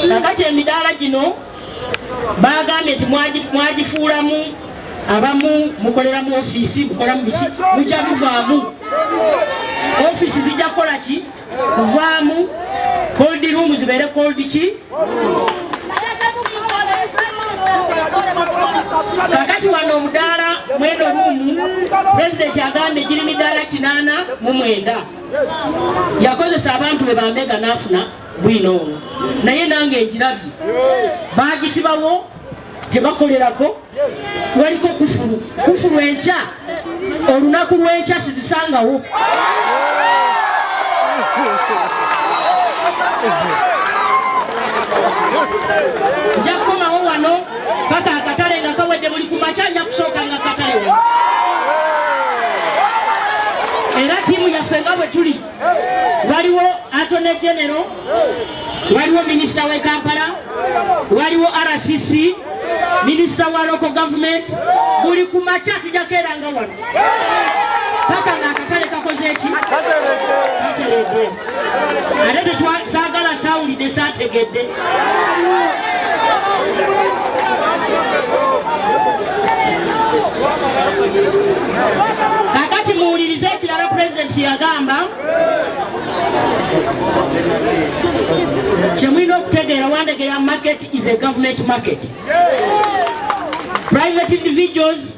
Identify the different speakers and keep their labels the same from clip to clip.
Speaker 1: Kakati emidaala gino baagambye nti mwagifuulamu abamu mukolera mu ofiisi mukola mu biki mujja muvaamu ofiisi zijja kukola ki kuvaamu cold room zibeere cold ki kakati wano omudaala mweno ruumu pulezidenti agambye giri midaala kinaana mu mwenda yakozesa abantu be bambega n'afuna bwino ono naye nange njirabye bagisibawo gyebakolerako waliko kufulu kufulu enkya olunaku lwenkya sizisangawo nja kukomawo wano paka akatale nga kawedde buli ku makya nja kusooka nga katale wano era tiimu yaffe nga bwe tuli waliwo atone genero waliwo minisita we kampala waliwo rcc minisita wa loko gavumenti buli ku makya tujakeeranga wano paka nga akatale kakoze eki kateledde ate tetwasagala sawulidde saategedde kakati muwulirize ekirala pulezidenti yagamba kyemulina okutegeera wandegeya market is a government market private individuals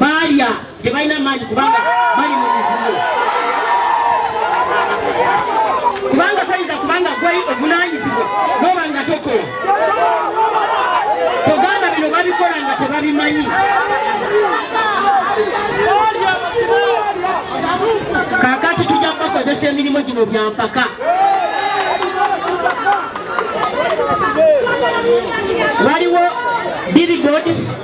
Speaker 1: baalya tebalina amaanyi kubanga bali mu mivuyo kubanga toyinza kubanga gwe ovunanyizibwa noba nga tokola togamba bino babikola nga tebabimanyi kakati tujja kubakozesa emirimu gino byampaka waliwo birigods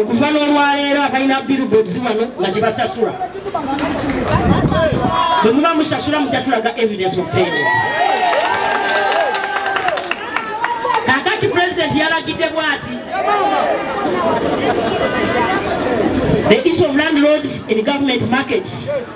Speaker 1: okuva n'olwaleero abalina billboards wano nga tebasasula bwe muba musasula mutatulaga evidence of payment kakati pulezidenti yalagidde bwati the issue of landlords in government markets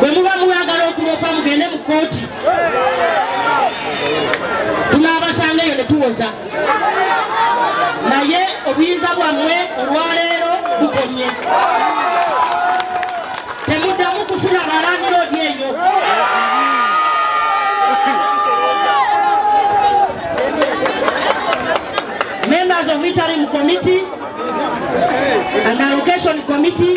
Speaker 1: bwe muba mwagala okuloopa mugende mu kkooti tunaabasanga eyo ne tuwoza naye obuyinza bwammwe olwaleero bukomye temuddamu kufuna balangira odi eyo members of interim committee and allocation committee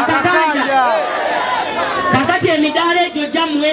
Speaker 1: akakanja kakati emidaala egyo gyamuwe